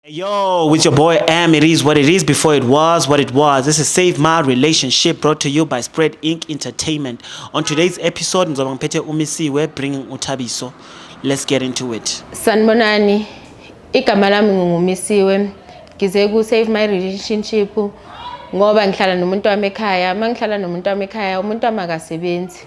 Yo, with your boy M, it is what it is before it was what it was. This is Save My Relationship brought to you by Spread Inc. Entertainment. On today's episode, ngizoba ngiphethe uMisiwe bringing uThabiso. Let's get into it. Sanibonani. Igama lami ngingumisiwe. Ngize ku Save My Relationship ngoba ngihlala nomuntu wami ekhaya. Uma ngihlala nomuntu wami ekhaya, umuntu wami akasebenzi.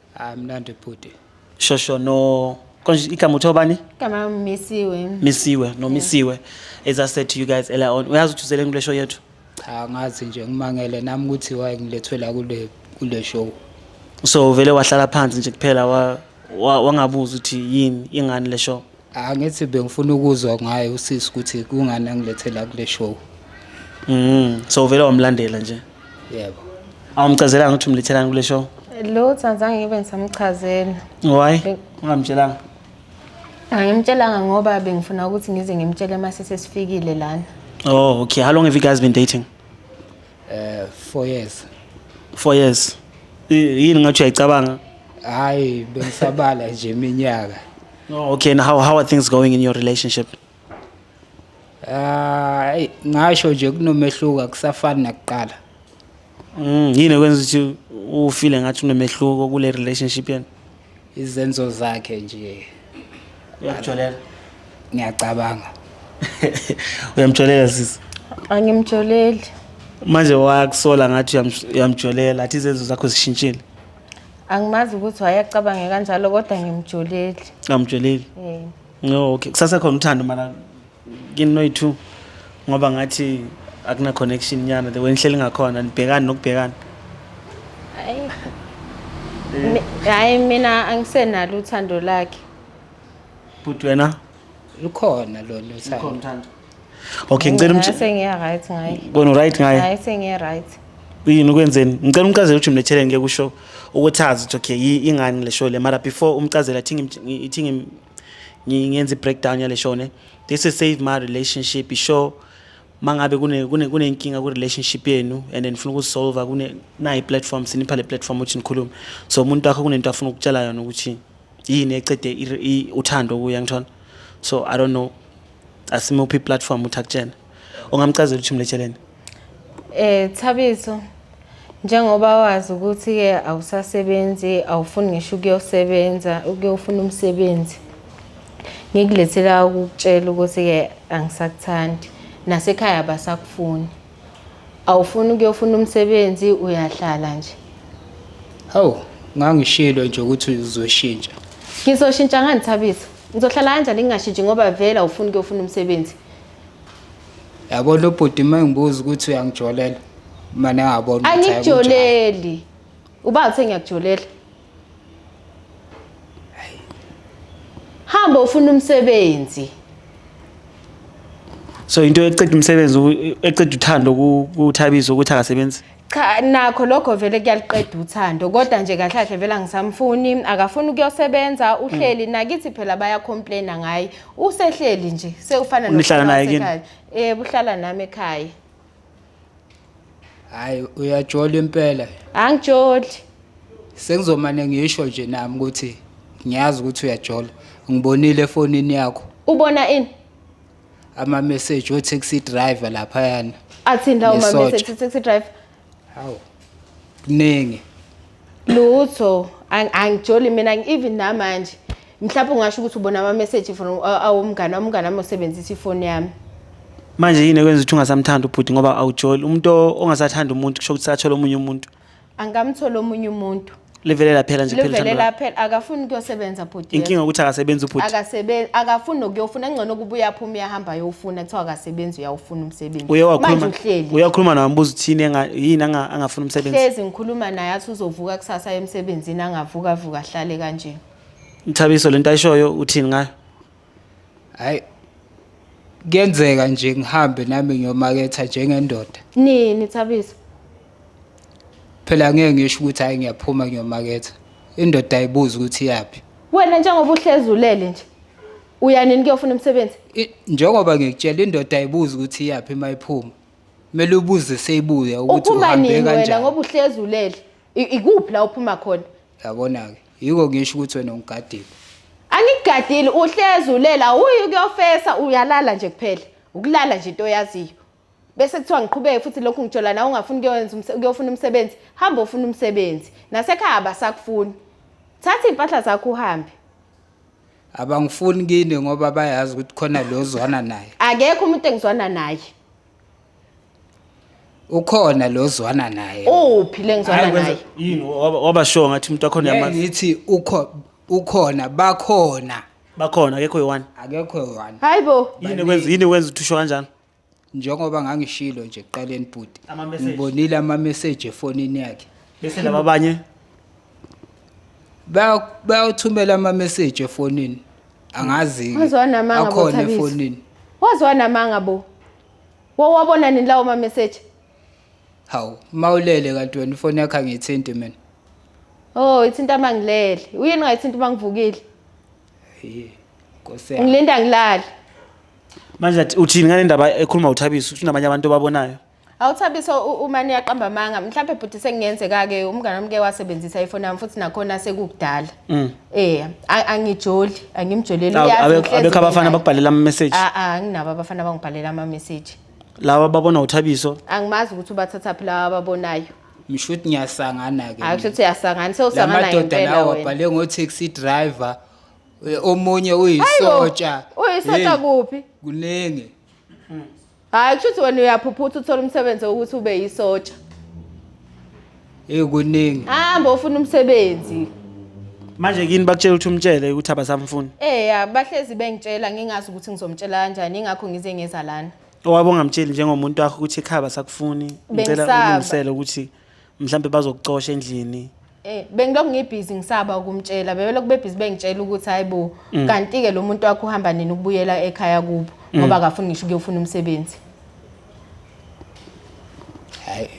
Ah mnandi bhuti. Shosho no konje igama uthiwa bani? Igama Misiwe. Misiwe no Misiwe. As I said to you guys earlier on, uyazi ukuthi uzeleni kule show yethu? Cha ngazi nje ngimangele nami ukuthi why ngilethwe la kule kule show. So vele wahlala phansi nje kuphela wa wa- wangabuza ukuthi yini ingani le show. Angithi bengifuna ukuzwa ngaye usisi ukuthi kungani angilethela kule show. Mm. So vele wamlandela nje. Yebo. Awumchazelanga ukuthi umlethelani kule show? Lo Tsanzange ngibe ngisamchazela. Why? Be- Ungamtshelanga. Angimtshelanga ngoba bengifuna ukuthi ngize ngimtshele uma sesesifikile lana. Oh, okay. How long have you guys been dating? Eh 4 years. 4 years. I- Yini ngathi uyayicabanga? Hayi bengisabala nje iminyaka. Oh, okay, and how, how are things going in your relationship? Ah, eyi, ngasho nje kunomehluko akusafani nakuqala Mm, yini ekwenza ukuthi ufile ngathi unomehluko kule relationship yenu? izenzo zakhe nje Uyamjolela. ngiyacabanga Uyamjolela sisi. angimjoleli Manje wakusola ngathi uyam- uyamjolela, athi izenzo zakho zishintshile. Angimazi ukuthi wayecabange kanjalo kodwa ngimjolile. Ngamjolile. Eh. No, okay. Kusasa khona uthando mara kini noyi-two ngoba ngathi akuna-connection nyana the way nihleli ngakhona nibhekani nokubhekana. Hayi. Mi- Hayi mina angisenalo uthando lakhe. Bhuti wena lukhona lolu thando okay ngicela umtshele sengiya right ngaye kona right ngaye hayi sengiya right yini ukwenzeni ngicela umchazele ukuthi mletheleni ngeke usho ukuthi azi ukuthi okay ingani le show le mara before umchazela ithi ithi ngiyenza i-breakdown yale show ne this is save my relationship ishow mangabe kune kune kunenkinga ku relationship yenu and then ngifuna ukusolve kune nayi platform sinipha le platform ukuthi nikhulume so umuntu wakho kunento afuna ukutshela yona ukuthi yini ecede i- i- uthando kuye angithona so i don't know asimuphi iplatform ukuthi akutshene ungamcazela ukuthi mletsheleni Eh Thabiso njengoba wazi ukuthi ke awusasebenzi awufuni ngisho ukuyosebenza ukuyofuna umsebenzi ngikulethela ukutshela ukuthi ke angisakuthandi nasekhaya basakufuni Awufuni ukuyofuna umsebenzi uyahlala nje. Hawu, ngangishilo nje ukuthi uzoshintsha. Ngizoshintsha ngani Thabiso? Ngizohlala kanjani ngingashintshi ngoba vele awufuni ukuyofuna umsebenzi. Yabo lo bhuti uma engibuza ukuthi uyangijolela. Mane angabona ukuthi hayi kunjalo. Angikujoleli. Uba uthe ngiyakujolela. hamba ufuna umsebenzi so into eqeda umsebenzi u- eqeda uthando ku- kuthabiso ukuthi akasebenzi cha nakho lokho vele kuyaliqeda uthando kodwa nje kahle kahle vele angisamfuni akafuni ukuyosebenza uhleli nakithi phela bayacomplaina ngaye usehleli nje sewufana Nihlala naye kini? nosekhaya. eh uhlala nami ekhaya hayi uyajola impela angijoli sengizomane ngisho nje nami ukuthi ngiyazi ukuthi uyajola ngibonile efonini yakho ubona ini ama-message o-taxi driver laphayana athini lawo Ngesotsha. ma-message taxi driver hawu kuningi lutho ang- angijoli mina even namanje mhlawumbe ungasho ukuthi ubona amameseji from uh, awomngane wami umngane wami osebenzisa ifoni yami manje yini ekwenza ukuthi ungasamthandi ubhuti ngoba awujoli umuntu o- ongasathanda umuntu kusho ukuthi sathola omunye umuntu angamtholi omunye umuntu livele laphela nje livele phela laphela akafuni kuyosebenza bhuti yena. inkinga ukuthi akasebenzi ubhuti akasebenzi akafuni nokuyofuna engcono kuba uyaphuma uyahamba ayowufuna kuthiwa akasebenzi uyawufuna umsebenzi uye manje wakhuluma uhleli uye wakhuluma nawe mbuza uthini enga- yini anga- angafuni umsebenzi hlezi ngikhuluma naye athi uzovuka kusasa emsebenzini angavuka vuka ahlale kanje Mthabiso lento ayishoyo uthini ngayo? Hayi. Kuyenzeka nje ngihambe nami ngiyomaketha njengendoda. Nini Thabiso? Phela ngeke ngisho ukuthi hayi ngiyaphuma ngiyomaketha. Indoda ayibuzi ukuthi iyaphi. Wena njengoba uhlezi ulele nje. Uya nini kuyofuna umsebenzi? I- Njengoba ngikutshela indoda ayibuzi ukuthi iyaphi uma iphuma. Kumele ubuze seyibuya ukuthi Uphuma uhambe nini wena kanjani. ngoba uhlezi ulele? I- Ikuphi la uphuma khona? Yabona-ke, yiko ngisho ukuthi wena ungigadile. Angikugadile, uhlezi ulela, awuyi ukuyofesa, uyalala nje kuphela. Ukulala nje into oyaziyo. Bese kuthiwa ngiqhubeke futhi lokhu ngitshola nawe ungafuni ukuyokwenza umse- ukuyofuna umsebenzi, hamba ofuna umsebenzi. Nasekhaya abasakufuni. Thatha iy'mpahla zakho uhambe. Abangifuni kini ngoba bayazi ukuthi khona lo ozwana naye. Akekho umuntu engizwana naye. ukhona lo zwana naye uphi lengizwana naye yini waba sure ngathi umuntu wakhona yamazi ngithi ukho ukhona bakhona bakhona akekho yiwani akekho yiwani hayibo yini kwenza yini kwenza uthusho kanjani njengoba ngangishilo nje kuqaleni bhuti ngibonile ama message efonini yakhe bese laba abanye bayawuthumela ama-message efonini angazi-ke Waze wanamanga bo, akhona Thabiso. efonini waze wanamanga bo wawabona nini lawo mameseji hawu uma ulele kanti wena ifoni yakho angiyithinti mina oh ithinta uma ngilele uyini ungayithinta uma ngivukile Hhayi, nkosi yami. ngilinda ngilale manje athi uthini ngale ndaba ekhuluma uthabiso uthi unabanye abantu obabonayo Awuthabiso uma niyaqamba amanga mhlawumbe bhuti sekungenzeka-ke umngane wami ke wasebenzisa ifoni yami futhi nakhona sekukudala um angijoli angimjoleli mm. uyazi ngihlezi abekho mina. abafana bakubhalela ama-message Ah, ah, anginabo abafana abangibhalela ama-message laba babona uthabiso angimazi ukuthi ubathathaphi lawa ababonayo ngisho ukuthi ngiyasangana-ke hayi kusho ukuthi uyasangana la sewusangana madoda ngempela lawo wena abhale ngo-taxi driver eh, omunye Hayibo, uyisotsha uyisotsha Hey, kuphi kuningi Hayi kusho ukuthi wena uyaphuphutha uthola umsebenzi wokuthi ube yisotsha. Hey kuningi. Hamba ufuna umsebenzi. Manje kini bakutshela ukuthi umtshele ukuthi abasamfuni. Eh ya bahlezi bengitshela ngingazi ukuthi ngizomtshela kanjani ingakho ngize ngeza lana. Owabo ngamtsheli njengomuntu wakho ukuthi ekhaya basakufuni. Ngicela Bengisaba. ulungisele ukuthi mhlambe bazokucosha endlini. Eh bengilokhu ngibhizi ngisaba ukumtshela bebelokhu bebhizi bengitshela ukuthi hayibo mm. kanti ke lo muntu wakho uhamba nini ukubuyela ekhaya kubo mm. ngoba akafuni ngisho ukuyofuna umsebenzi hayi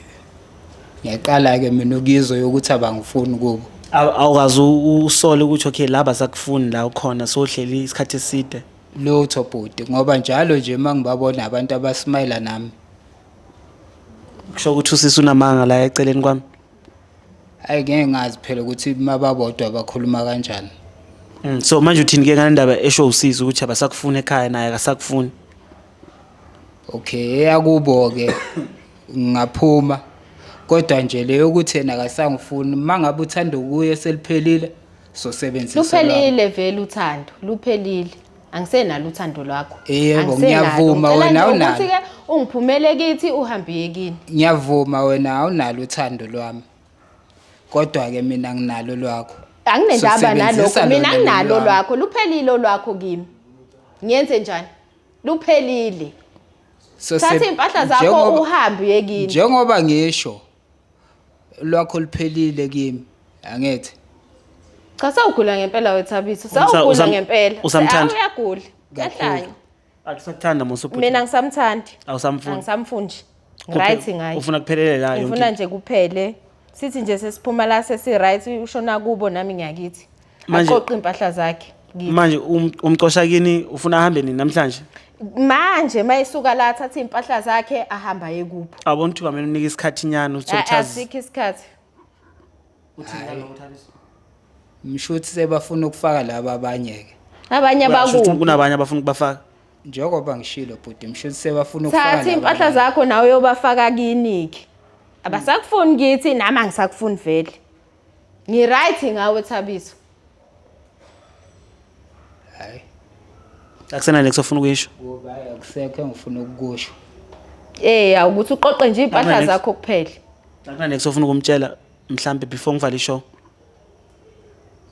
ngiyaqala ke mina ukuyizwa yokuthi abangifuni kubo awukazi usole ukuthi okay laba sakufuni la ukhona sohleli isikhathi eside lutho bhuti ngoba njalo nje uma ngibabona abantu abasimayela nami kusho ukuthi usisi unamanga la eceleni kwami Ayi ngeke ngazi phela ukuthi mababodwa bakhuluma kanjani. Mm, so manje uthini ke ngale ndaba esho usisi ukuthi abasakufuni ekhaya naye akasakufuni. Okay, eyakubo ke ngaphuma. Kodwa nje le yokuthi yena akasangifuni mangabe uthanda kuye seliphelile sosebenzisa lwakho. Luphelile vele uthando, luphelile. angisenalo uthando lwakho yebo ngiyavuma wena awunalo ukuthi ke ungiphumele kithi uhambe yekini ngiyavuma wena awunalo uthando lwami kodwa ke mina nginalo lwakho anginendaba nalokho mina nginalo lwakho luphelile olwakho kimi ngiyenze njani luphelile so thatha impahla zakho uhambe yekini njengoba ngisho lwakho luphelile kimi angithi Cha sawugula ngempela wethabiso. Umsa- Sawugula usam- ngempela. usamthanda? Awu, Uyagula. Uyahlanya. akusakuthanda musa ubhuti Mina ngisamthandi. awusamfuni Angisamfuni nje. Right ngaye. ufuna kuphelele la yonke Ngifuna into. nje kuphele. Sithi nje sesiphuma la sesi right ushona kubo nami ngiyakithi. Manje- aqoqe impahla zakhe kithi. manje um- umcosha kini ufuna ahambe nini namhlanje manje mayesuka la athathe impahla zakhe ahamba yekupho abona ukuthi kwamele unike isikhathi nyana ukuthi uchaze asikho isikhathi ngisho ukuthi sebafuna ukufaka laba abanye-ke abanye Basho ukuthi bakubi kunabanye abafuna ukubafaka njengoba ngishilo bhuti ngisho ukuthi sebafuna ukufaka thatha laba impahla abanye. zakho nawe uyobafaka kiniki abasakufuni kithi nami angisakufuni vele Ngiright ngawe Thabiso. Hayi. Akusena next ofuna ukuyisho. Ngoba akusekho engifuna ukusho. Eh awukuthi uqoqe nje impahla zakho kuphela. Akuna next ofuna ukumtshela mhlambe before ngivale ishow.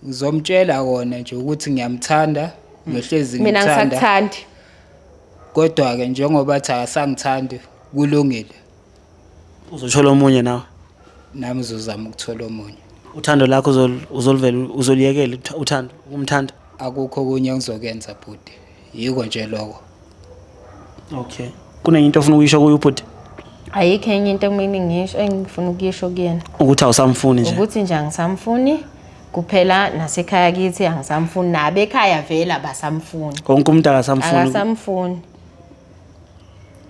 Ngizomtshela kona nje ukuthi ngiyamthanda, ngihlezi Mina ngimthanda. ngisakuthandi. Kodwa ke njengoba athi akasangithandi kulungile. uzothola omunye nawe nami uzozama ukuthola omunye uthando lakho uzolivela uzoliyekela uthando ukumthanda akukho okunye engizokenza bhuti yiko nje loko okay kunenye into ofuna ukuyisho kuyo ubhuti ayikho enye into mina ngisho engifuna ukuyisho kuyena ukuthi awusamfuni nje ukuthi nje angisamfuni kuphela nasekhaya kithi angisamfuni nabekhaya vele abasamfuni konke umuntu akasamfuni akasamfuni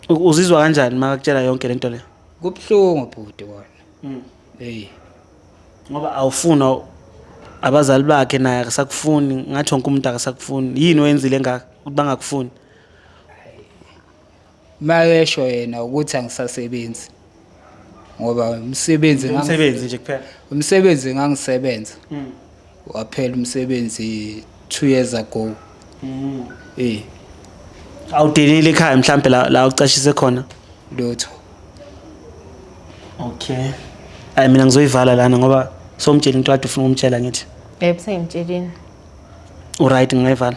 U- uzizwa kanjani uma akutshela yonke lento le kubuhlungu bhuti kona Mm. hey ngoba awufuna u- abazali bakhe naye akasakufuni ngathi wonke umuntu akasakufuni yini oyenzile engaka ukuthi bangakufuni mayesho yena ukuthi angisasebenzi ngoba umsebenzi ngangi- umsebenzi nje kuphela umsebenzi ngangisebenza Mm. waphela umsebenzi two years ago Mm. eh awudelile ekhaya mhlawumbe la la ucashise khona lutho okay ayi mina ngizoyivala lana ngoba somtshela into kade ufuna ukumtshela ngithi Yebo sengimtshelile. uright ngingayivala